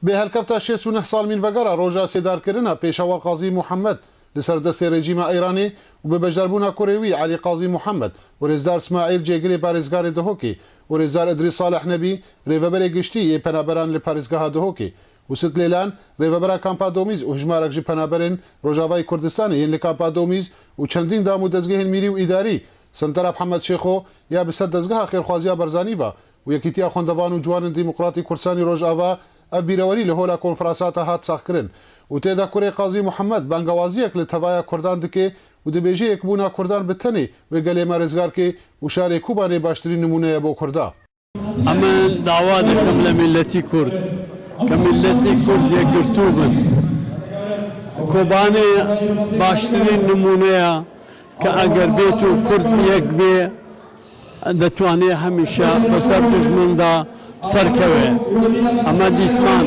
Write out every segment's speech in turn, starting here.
Bi helkefta şêst û neh sal mînvegara roja sêdarkirina pêşewa Qazî Muhemmed li ser destê rejîma Îranê û bi beşdarbûna kurê wî Elî Qazî Muhemmed û rêzdar Smaîl cêgirê parêzgarê Dihokê û rêzdar Îdrîs Saleh Nebî rêveberê giştî yê penaberan li parêzgeha Dihokê Husit Lêlan, rêvebera Kampa Domîz û hijmarek ji penaberên Rojavayê Kurdistanê yên li Kampa Domîz û çendîn dam û dezgehên mîrî û îdarî, Sentara Mhemed Şêxo, ya bi ser Dezgeha Xêrxwaziya Barzanî va û Yekîtiya Xwendevan û Ciwanin Demokratî Kurdistanî Rojava, ev bîrewerî li Hola Konferansata hat saxkirin û tê de kurê Qazî Muhemed bengewaziyek li tevaya Kurdan dike û dibêje yekbûna Kurdan bi tenê wê gelê me rêzgar ke û şarê Kubanê baştirîn nimûne ye bo Kurda. Em dawa dikim li mîletî Kurd ke mîletî Kurd yekgirtû bin. Kobanê baştirîn nimûne ye ke eger bêt û Kurd yek bê detwanê hemîşe bi ser dijmin de serkeve. Em dîtman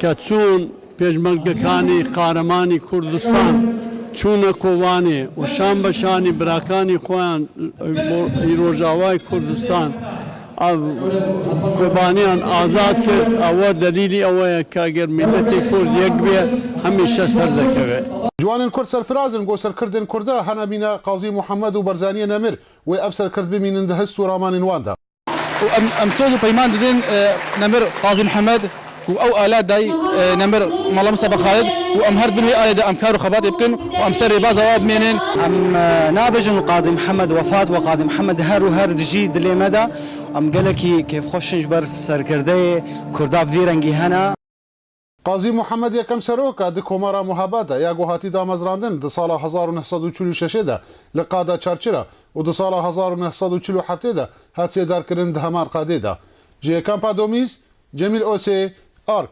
ke çûn, Pêşmergekanî Qaremanî Kurdistan çûne Kobanê û şan be şanî birakanî xweyan li Rojavayê Kurdistan a Kobanîyan azad kir. Ewe delîlî ewe ye ke eger mîletê Kurd yek biye hemîşe ser dekeve. Ciwanên Kurd serfiraz in ku serkirdên Kurda hene mîna Qazî Muhammed û Barzaniyê Nemir wê ev serkird bimînin di hist û ramanên wan de. Û em em soz û peyman didin Nemir Qazî Mihemed û ew ala dayî Nemir Mala Mistefa Xalid û em her di bin wê alê de em kar û xebatê bikin û em ser rêbaza wan bimênin. Em nabêjin Qazî Mihemed wefat we Qazî Mihemed her û her dijî dilê me de. Em gelekî kêfxweş in ji ber serkirdeyê Kurda bi vî rengî hene. Qazî Muhammed Yekem Serok a di Komara Muhaba de ya ku hatî damezrandin di sala hezar û neh sed û çil û şeşê de li Qada Çarçira û di sala hezar û neh sed û çil û heftê de hat sêdarkirin di heman qadê de ji yê Kampa Domîz, Cemîl Osê, Ark.